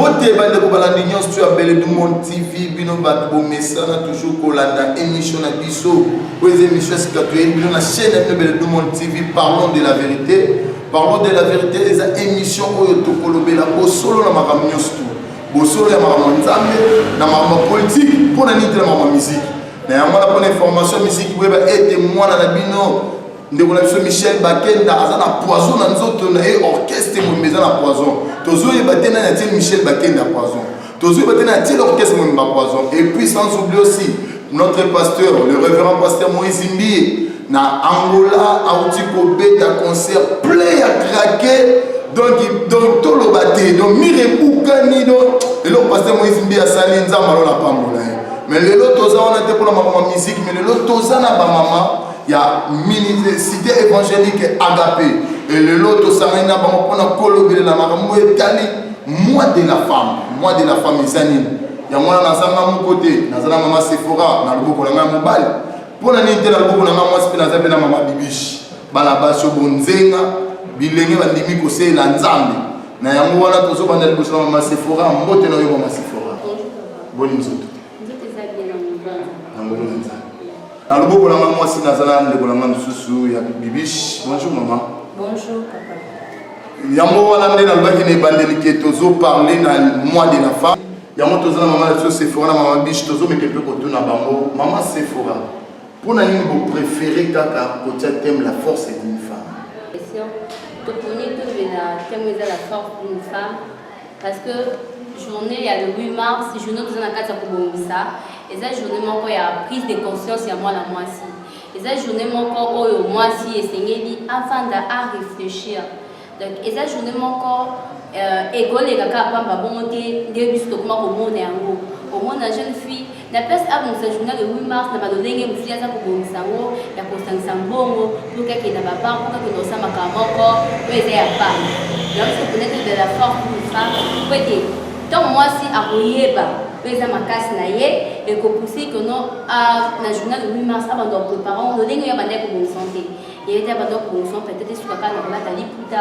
Bote bandeko balandi nyonso to ya mbele du monde tv bino bato bomesana toujours kolanda émission na biso oyo eza émission ya sika toyebi bino na chaîne ya bino mbele du monde tv parlons de la vérité parlons de la vérité eza émission oyo tokolobela bosolo na makambo nyonso tu bosolo ya makambo ya nzambe na makambo ya politike mpo na nini te na makambo ya miziki na yango wana mpona information ya miziki boyeba ete mwana na bino ndeko na biso michel bakenda aza na poison na nzoto na ye orchestre mobimba eza na poison tozoyeba te nani atie michel bakenda poison tozoyeba te nani atie orchestre mobimba poison et puis sans oublie aussi notre pasteur le révérend pasteur moïse mbie na angola auti kobeta concert plein ya krake donc donc toloba te donc mire ebukani donc eloko pasteur moïse mbie asali nzambe alona pambola ye mais lelo toza wana te mpona makambo ya miziki mais lelo toza na bamama ya minisite evangelique agape lelo tosangani na bango mpona kolobelela makambo etali moi de la femme moi de la femme eza nini yango wana nazanga moko te naza na mama sefora na loboko na ngai mobali mpo na nini te na loboko na ngai mwasi mpe naza mpe na mama bibishi bana basi yo bonzenga bilenge bandimi koseela nzambe na yango wana tozobanda liboso na mama sefora mbote na yo mama sefora boni nzoto Na loboko na nga mwasi naza na ndeko na nga mosusu ya bibish. Bonjour maman. Bonjour papa. Yango wana nde nalobaki na ebandeli ke tozo parle na mois de la femme. Yango toza na mama na biso Sephora na mama bish tozomeka mpe kotuna bango mama Sephora mpo na nini boprefere kaka kotia teme la force d'une femme toponi tolobela teme eza la force d'une femme parce que journée ya le 8 mars journée toza na kati ya kobongisa eza journée moko ya prise de conscience ya mwana mwasi eza journée moko oyo mwasi esengeli afanda a réfléchir donc eza journée moko euh, ekoleka kaka pamba bongo te nde biso tokoma komona yango omona jeune fille Na place abongisa journal le 8 mars na balolenge mosusu ye aza kobongisa yango ya kosangisa mbongo mpo kake na babank mpo kake naosa makambo moko oyo eza ya bank yango se connaître de la force pour ça mpo ete ntango mwasi akoyeba mpo eza makasi na ye ekopousse que non na journal le 8 mars abanda koprepare yango lolenge oyo abandaki kobongisa te ye te abanda kobongisa peut-être esukaka na kolata liputa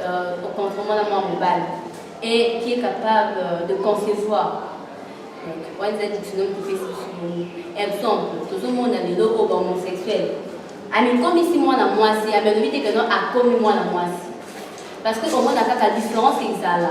euh, au contrairement à moi mobile, et qui est capable euh, de concevoir. Donc, on a des dictionnaires qui fait ce Exemple, tout le monde a des logos homosexuels. amikomi si mwana mwasi amekobite keno akomi mwana mwasi parce que omona kaka différence ezala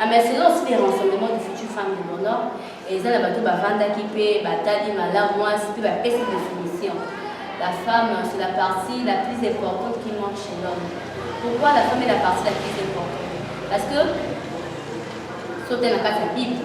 Ah, mais selon aussi les renseignements du futur femme de mon nord, eza na bato bavandaki mpe batali malamu mwasi mpe bapesi définition. La femme, c'est la partie la plus importante qui manque chez l'homme. Pourquoi la femme est la partie la plus importante Parce que, sauter la patte à Bible,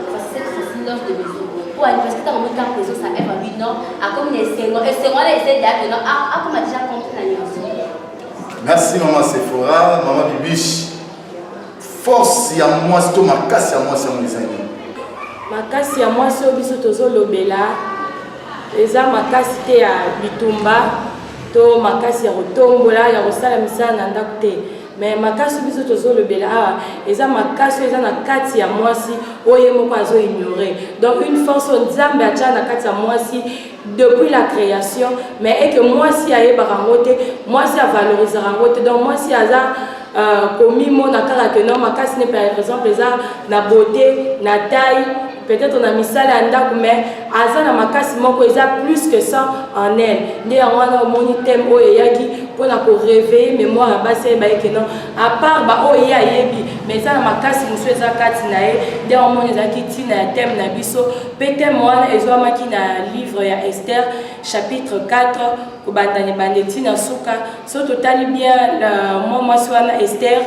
po anniversaire ntango moni kaka ezo sanga eva bino akomi na esengo esengo wana eza edate no akoma deja compte na nyonso merci mama sephora mama bibiche force ya mwasi to makasi ya mwasi yango eza nini makasi ya mwasi oyo biso tozolobela eza makasi te ya bitumba to makasi ya kotombola ya kosala misala na ndako te mais makasi biso tozolobela awa eza makasi eza na kati ya mwasi oyo ye moko azo ignore donc une force oyo nzambe atya na kati ya mwasi depuis la création mais eke mwasi ayebaka yango te mwasi avalorisaka yango te donc mwasi aza euh, komimona kaka ke no makasi ne par exemple eza na beauté na taille peut-être na misala ya ndako mais aza na makasi moko eza plus que ça en elle nde yango wana omoni thème oyo eyaki mpo na koreveille mémoire ya basi ayeba ye ke non à part baoyo ye ayebi mais eza na makasi mosusu eza kati na ye nde yango omoni ezalaki ntina ya thème na biso mpe thème wana ezwamaki na livre ya ester chapitre 4 kobanda na ebande ntina suka so totali bien mwa mwasi wana ester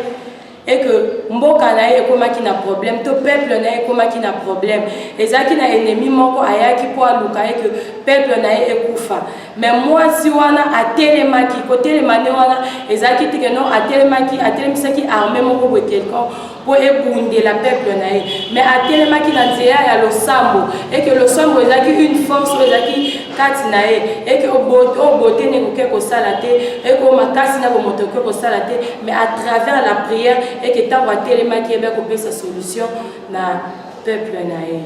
et que mboka na ye ekomaki na problème to peuple na ye ekomaki na problème ezalaki na ennemi moko ayaki mpo aluka ye que peuple na ye ekufa mais mwasi wana atelemaki kotelema nde wana ezalaki teke non atelemaki atelemisaki armée moko boye quelconque mpo ebundela peuple na ye mais atelemaki na nzela ya losambo eke losambo ezalaki une force oyo ezalaki kati na ye eke oyo bote nde ekoki kosala te eke oyo makasi na bomoto ekoki kosala te mais à travers la prière eke ntango atelemaki ebe akopesa solution na peuple na ye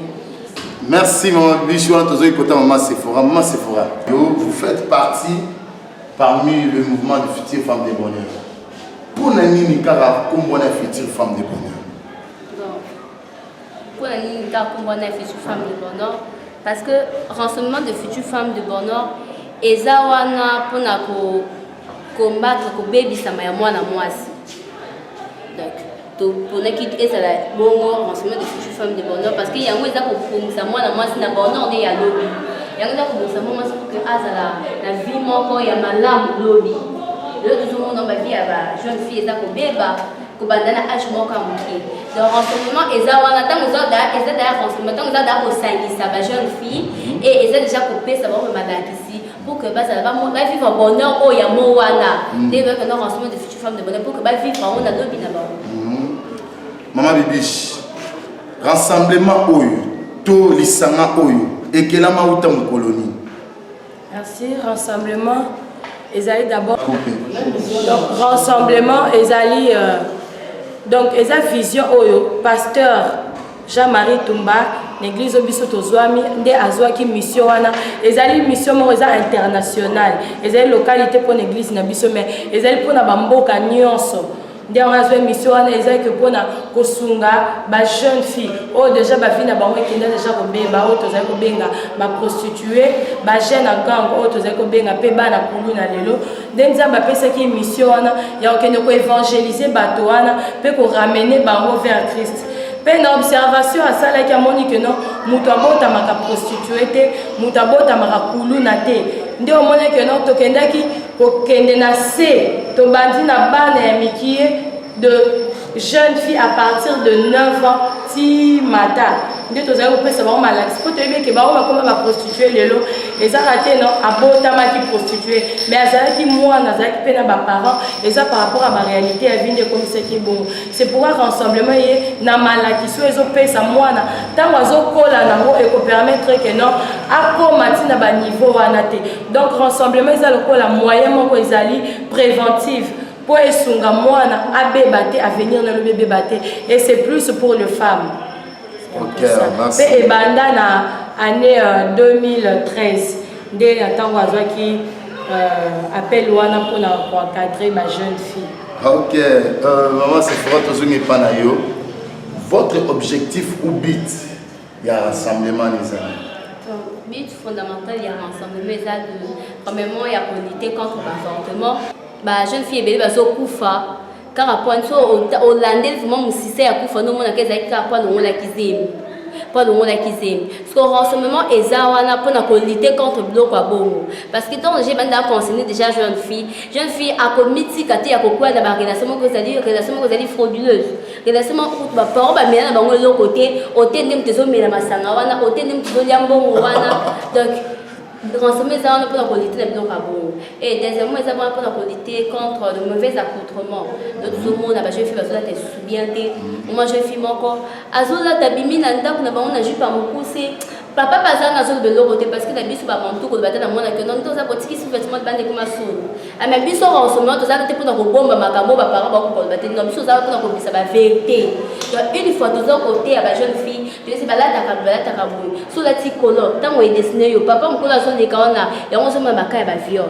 merci mama bibishi wana tozoi kota mama sephora mama sephora yo vous faites partie parmi le mouvement de future femme de bonheur mpo na nini kaka nkombo wana future femme de bonheur Mpo na nini kaka nkombo wana ya future femme de bonheur parce que renseignement de future femme de bonheur eza wana mpo na ko combattre kobebisama ya mwana mwasi donc toponaki ezala bongo renseignement de future femme de bonheur parce que yango eza kobongisa mwana mwasi na bonheur nde ya lobi yango eza kobongisa mwana mwasi poke azala na vie moko ya malamu lobi lelo tozomona bavi ya ba jeune fille eza kobeba kobanda na age moko ya moke donc renseignement eza wana ntango eza daya renseignement ntango eza daya kosangisa ba jeune fille mhm. et eza déjà kopesa bango mpe balakisi pour que bazala bavivre bonheur oyo yango wana mhm. nde ezalaki na renseignement de future femme de bonheur pour que bavivre yango na lobi na bango mhm. mama bibiche rassemblement oyo to lisanga oyo ekelama uta mokolo nini Merci. Rassemblement ezali d'abord donc rassemblement ezali euh, donc eza vision oyo pasteur Jean-Marie Tumba na église oyo biso tozwami nde azwaki mission wana ezali mission moko eza internationale ezali localité mpo na église na biso mais ezali mpo na bamboka nyonso nde yango azwa émission wana eza ke mpona kosunga ba jeune fille oyo oh, deja bavi na bango ekenda deja kobeba oyo oh, tozali kobenga baprostitue bajeune en gang oyo oh, tozali kobenga mpe bana kulu na lelo nde nzambe apesaki émission wana ya kokende koevangelize bato wana mpe koramene bango vers christ mpe na observation asalaki amoni ke no moto abotamaka prostitue te moto abotamaka kuluna te nde omonaki no tokendaki Kokende na se, tobandi na bana ya mikie de jeune fille à partir de 9 ans ti mata nde tozali kopesa bango malakisi mpo toyebi eke bango bakoma baprostitue lelo ezaka te no abotamaki prostitue me azalaki mwana azalaki mpe na baparent eza par rapport ya baréalité ya vi nde ekomisaki bongo c'est pourquoi rassemblement ye na malakisi oyo ezopesa mwana ntango azokola nango ekopermettre ke non akoma ntina baniveau wana te donc rassemblement eza lokola moyen moko ezali préventive mpo esunga mwana abeba te avenir na lobi ebeba te et c'est plus pour le femme mpe okay, ebanda na année 2013 euh, nde na ntango azwaki euh, appel wana mpo na koencadre ba jeune fille ok euh, maman sefora tozongi epa na yo votre objectif ou but ya rassemblement ezali donc but fondamental ya rassemblement eza de premièrement ya kolite contre baavortement bajeune fille ebele bazokufa kaka pwani so olandeli vraimen mosisa ya kufa nomonaka ezalaki kaka pwani ongolaki zemi mpo alongolaki zemi parceke renseignement eza wana mpo na kolite contre biloko ya bongo parce que ntango deja ebandi aconseine déjà jeune fille jeune fille akomitika te ya kokwela na barelation moko ezali relation moko ezali frauduleuse Elasema okutu ba parents ba mela na bango eloko te, ote nde moto ezomela masanga wana, ote nde moto ezolya mbongo wana. Donc renseignement eza wana mpona kolite na biloko ya bongo. Et deuxièmement eza wana mpona kolite contre le mauvais accoutrement. Donc tozomona ba jeune fille bazolata esusu bien te. Mwa jeune fille moko azolata bimi na ndako na bango na jupe ya mokuse. Papa baza na zolo beloko te parce que na biso ba mantu koloba te na mwana ke non toza kotiki sous vêtement bande kuma solo. Ama biso ba osoma toza te pona kobomba makambo ba parents ba kokoloba te non biso toza pona kobisa ba vérité. Donc une fois toza kote ya ba jeune fille toyesi balata ka balata ka boye. So la ti colon tango e dessiner yo papa mukolo azo leka wana yango zo ma makaya ba viol.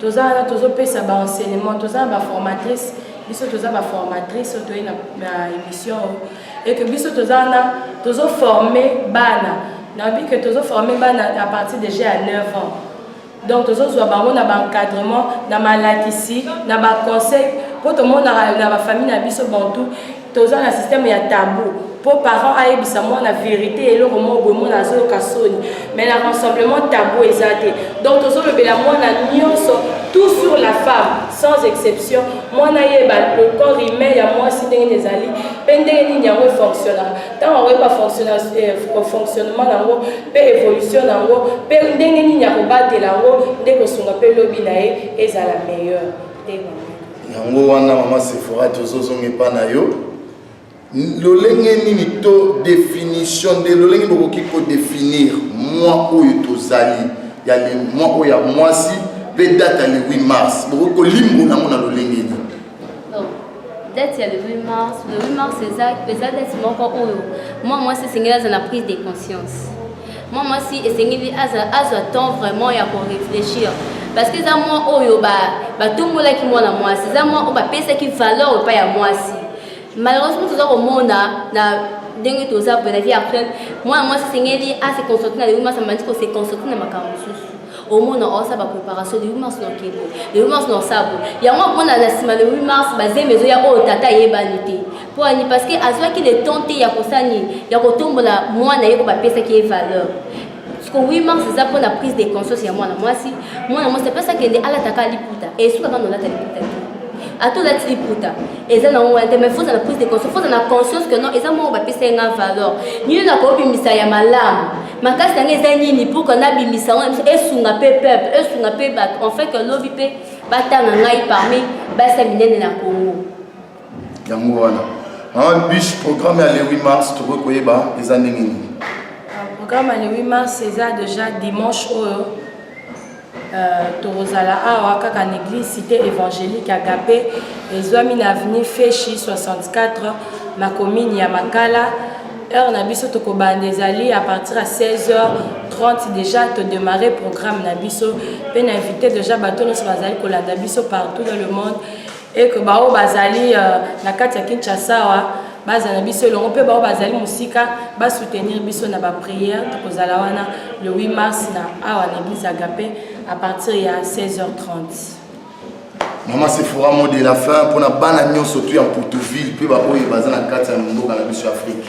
toza wana tozopesa ba enseignement toza na ba formatrice biso toza ba formatrice oyo toye na, na émission oyo eke biso toza wana tozoforme bana nayebi ke tozoforme bana à partir déjà ya 9 ans donc tozozwa bango na baencadrement na malakisi na baconseil mpo tomonaka na bafamille na biso bantu toza na système ya tabou mpo parent ayebisa mwana verité eloko moko boye mwana azoyoka soni mais na rassemblement tabou eza te donc tozolobela mwana nyonso tout sur la femme sans exception mwana ayeba le corps humain ya mwasi ndenge nini ezali mpe ndenge nini yango efonctionnaka ntango akoyeba fonctionnement yango mpe évolution na yango mpe ndenge nini akobatela yango nde kosunga mpe lobi na ye ezala meilleure yango wana mama sefora tozozonga epa na yo lolenge nini to definition nde lolenge bokoki kodefinir mwa oyo tozali ya mwa oyo ya mwasi mpe date ya le 8 mars bokoki kolimbola yango na lolenge nini date ya le 8 mars le 8 mars eza eza date moko oyo mwa mwasi esengeli aza na prise de conscience mwa mwasi esengeli azwa temps vraiment ya korefléchir parce que eza mwa oyo batombolaki ba mwana mwasi eza mwa oyo bapesaki valeur epai ya mwasi malheureusement toza komona na ndenge toza boye na vie actuelle mwana mwasi esengeli ase concentre na lewi mwasi amandi kose concentre na makambo mosusu omona osa ba préparation le 8 mars na kebo le 8 mars na osabo yango amona na nsima le 8 mars bazemi ezoya oyo tata ayebani te mpo ani parce que azwaki le temps te ya kosala nini ya kotombola mwana ye oyo bapesaki ye valeur siko 8 mars eza mpo na prise de conscience ya mwana mwasi mwana mwasi apesa kende alataka liputa esuka bana olata liputa te ata olati liputa eza na ngwana te mais foza na prise de conscience foza na conscience que non eza moko bapesa ye nga valeur nini nakobimisa ya malamu makasi yango eza nini pourkua nabimisa yango na biso esunga mpe peuple esunga mpe bato en fait lobi mpe batanga ngai parmi basi ya minene na congo yango wana maman bish programme ya le 8 mars tokoki koyeba eza ndenge nini ah, programme ya le 8 mars eza déjà dimanche oyo Euh, tokozala awa kaka na église cité évangélique agape ezwami na avenue feshi 64 na commune ya makala heure na biso tokobanda ezali à partir ya 16 h 30 déjà todémarre programme na biso mpe na invité déjà bato nyonso bazali kolanda biso partout dans le monde et que baoyo bazali euh, na kati ya kinshasa awa bazala biso elongo mpe baoyo bazali mosika basoutenir biso na baprière tokozala wana le 8 mars na awa na église agape à partir ya 16h30 mama sefora mo de la fin mpona bana nyonso tu ya mputuville mpe baoyo baza na kati ya mboka na biso ya afrike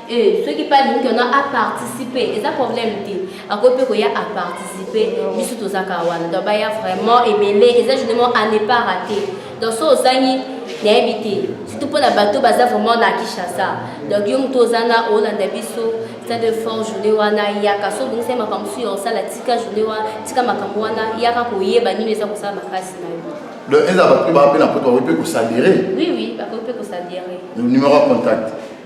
Eh, soki mpe alingi keno aparticipe eza problème te akoki mpe koya aparticipe biso tozaka wana donc baya vraiment ebele eza justement à ne pas rater donc so ozangi nayebi te surtout mpo na bato baza vraiment na kinshasa donc yo moto oza na olanda biso stade de fort journée wana yaka so obongisa makambo mosusu ya kosala tika journée wana tika makambo wana yaka koyeba nini eza kosala makasi na yo donc eza bato mpe baa mpe na poto bakoki mpe kosadere oui oui bakoki mpe kosadere numéro ya contact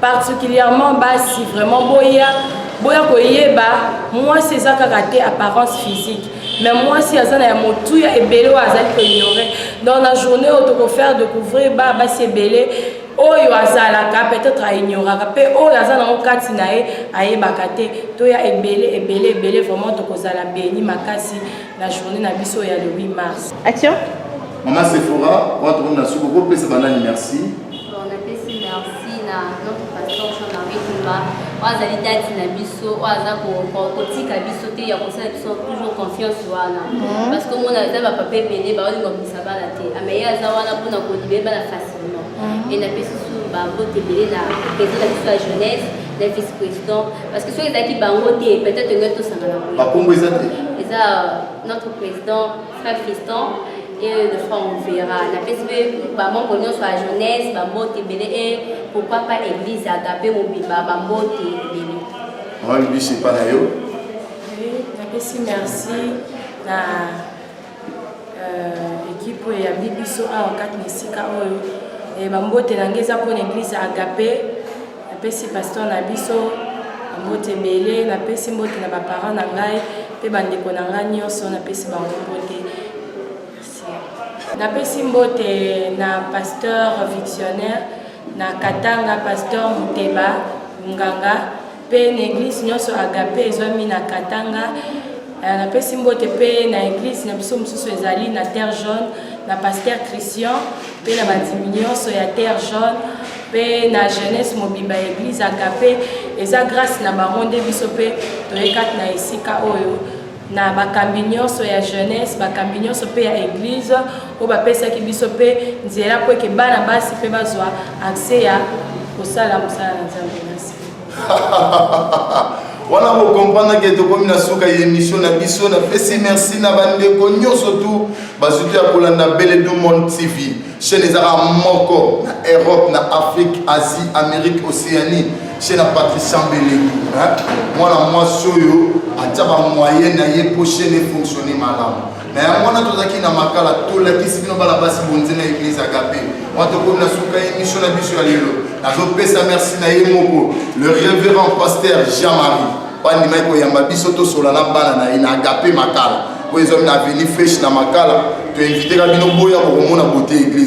particulièrement basi vraiment boya boya koyeba mwasi eza kaka te apparence physique mais mwasi aza na ya motuya ebele oyo azali koignore donc na journée oyo tokofaire découvrir ba basi ebele oyo azalaka peut-être aignoraka mpe oyo aza nango kati na ye ayebaka te toya ebele ebele ebele vraiment tokozala beni makasi na journée na biso ya le 8 mars action mama sephora wana tomoni na suku kopesa banani merci napesi merci na notre pasteur jean marie kumba oyo azali dati na biso oyo aza kotika biso te ya kosala biso toujours confiance wana mhm. parce que omona eza bapapa ebele baolinga komisa bana te ameye ah, aza wana mpona kolibele bana facilement mhm. e napesi su babote ebele na president na biso ya jeunesse na vice président parce que soki ezalaki bango te peut-être ngai tosangana bakombo eza te eza notre président Frère Fiston et de fois on verra. La PSP, ba membre nionso ya jeunesse, ba mbote ebele et pourquoi pas église agape mobimba ba mbote ebele. Maman Bibi c'est pas na yo. Oui, la PSP merci na euh, équipe ya Bibiso awa kati na esika oyo. Et ba mbote na ngai eza mpo na église agape. Napesi pasteur na biso mbote ebele, napesi mbote na baparent na ngai mpe bandeko na ngai nyonso, napesi bango mbote. Napesi mbote na pasteur victionnaire na Katanga, pasteur Muteba Nganga mpe na eglise nyonso Agape ezwami na Katanga. Eh, napesi mbote mpe na eglise na biso mosusu ezali na Terre Jaune na pasteur Christian mpe na bandimi nyonso ya terre jaune mpe na jeunesse mobimba ya eglise agape eza grâce na bango nde biso mpe toye kati na esika oyo na bakambi nyonso ya jeunesse bakambi nyonso mpe ya eglise oyo bapesaki biso mpe nzela mpo eke bana basi mpe bazwa accès ya kosala mosala na nzambe wana bokomprendre ke tokomi na suka ya émission na biso napesi merci na bandeko nyonso tu bazwi to ya kolanda bele du monde tv chaîne ezaka moko na europe na afrique asie amérique océanie chaîne ya patricia mbeleki mwana mwasi oyo atya bamoyen na ye mpo chaîne efonctionne malamu na yango wana tozalaki na makala tolakisi bino bana basi bonze na eglise agape wana tokomi na suka ya emission na biso ya lelo nazopesa merci na ye moko le révérend pasteur jean marie bandimaki koyamba biso tosola na bana na ye na agape makala oyo ezwami na avenue fresh na makala toinviteka bino boya kokomona bote eglise